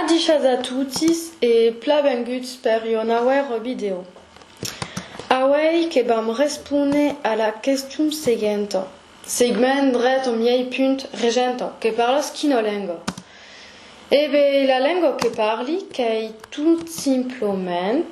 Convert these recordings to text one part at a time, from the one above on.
Adichas a totis e pla benguts per ua nauèra vidèo. Auèi que vam respóner a la question seguenta, segument drèt au miei punt regenta, que parlas quina lenga? E be, la lenga que parli qu'ei tot simploment.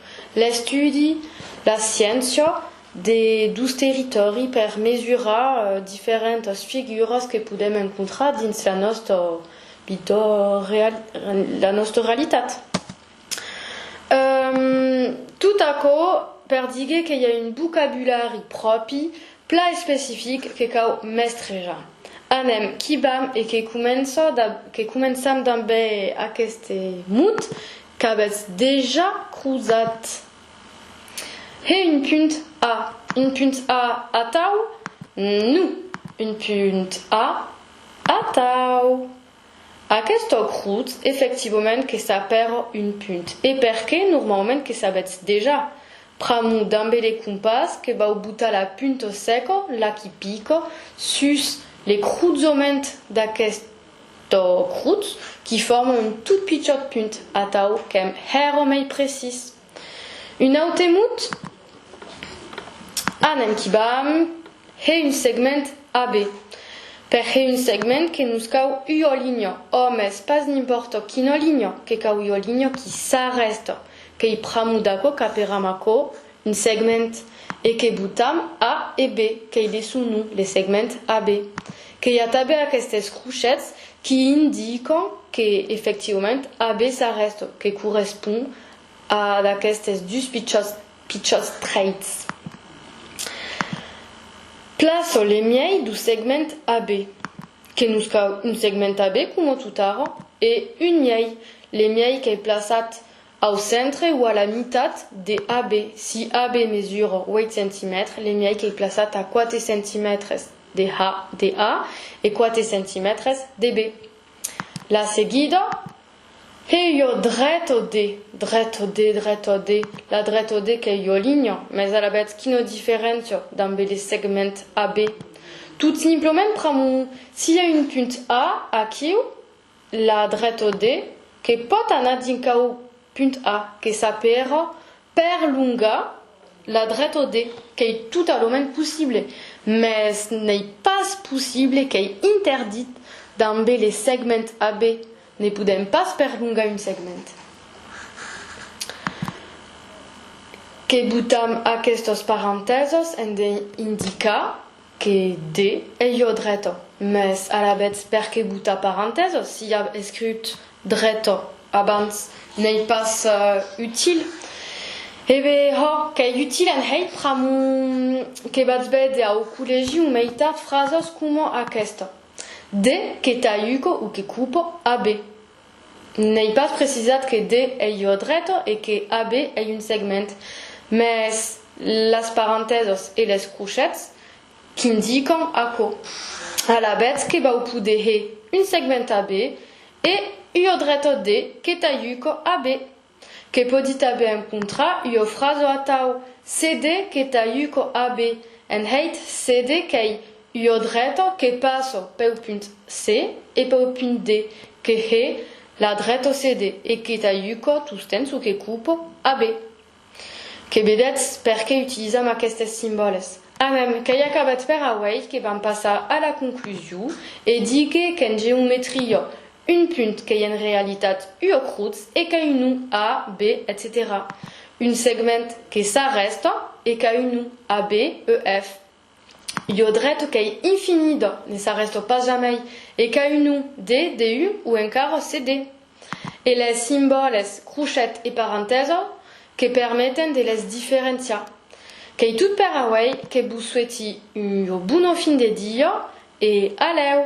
L'estudi, la sciéncia, de dus territòri per mesurar diferentas figuras que podèm encontrar dins la nòsta vita, la nòsta realitat. Tot aquò per díger que i a un vocabulari pròpi, plan especific que cau mestrejar. Anem, qu'i vam e que començam damb aqueste mot Qu'avètz dejà crosat. Hè un punt A, un punt A atau? Non, un punt A atau. Aquesta crotz efectivament que s'apèra un punt e perqué normalament que s'avètz dejà. Pr'amor dambe le compàs que vau botar la punta seca, la qui pica, sus le crozament d'aquesta To crut, qui forma un tot pichòt punt, atau qu'èm hèr omei precís. Un aute mot, a n'èm qui bam, hè un segment AB. Per hè un segment que nos cau ua linha, òmes, pas n'impòrta quina linha, que cau ua linha qui s'arrèsta, que'i pramo d'aquò caperam aquò, Un segment, e que botam A e B, qu'ei de son nom, le segment AB. Qu'i a tanben aquestes crochets qui indican que, efectivament, AB s'arrèsta, que correspond a d'aquestes dus pichòts, pichòts trèits. Plaço le miei dau segment AB, que nos cau un segment AB coma totara, e un miei, le miei qu'ei plaçat Au centre o a la mitat de AB, si AB mesura 8 centimètres, l'emièi qu'ei plaçat a 4 centimètres de A e 4 centimètres de B. La seguida, Hei ua dreto de, dreto de, dreto de, la dreto de qu'ei ua linha, mès alavetz quina diferéncia dambe le segment AB? Tot simplement pr'amor si i a un punt A aquiu, La dretor de, que pòt anar dincau punt A, que s'a per perlongar la dretor de, qu'ei totalament possible, mès n'ei pas possible, qu'ei interdit dambe le segment AB, ne podèm pas perlongar un segment. Que botam aquestos parentèsos en de indicar Que de, e jo dreta. Mès alavetz per que botar parantèsas si ja av escriut dreta abans? N'ei pas util. E be, ho, qu'ei util en hèit pr'amor que vatz véder au collègi o meitat frasas coma aquesta. De, que t'aiuco o que cupo, a be. N'ei pas precisat que D ei jo dreto e que AB ei un segment, mès las parantèsas e les crochets qu'indican aquò. Alavetz que vau poder he un segment AB e ua dreta D que t'ajuco AB. Que pòdi tanben encontrar ua frasa atau cde que t'ajuco ab en hèit cde qu'ei ua dreta que passo peu punt C e peu punt D, que hè la dreto cde e que t'ajuco tostemp ço que coupo ab. Que vedètz per qué utilisam aquestes simbòles. A mem, qu'ei acabat per auei que vam passar a la conclusiu e díger qu'en geometria Un punt qu'ei en realitat ua crutz e qu'a un nom A, B, etcetèra Un segment que s'arrèsta e qu'a un nom A, B, E, F Ua dreta qu'ei infinida, ne s'arrèsta pas jamai e qu'a un nom D, DU o encara CD E les simbòles crochet e parentesa que permeten de les diferenciar. Qu'ei tot per auei, que vos sueti ua bona fin de dia e alèu!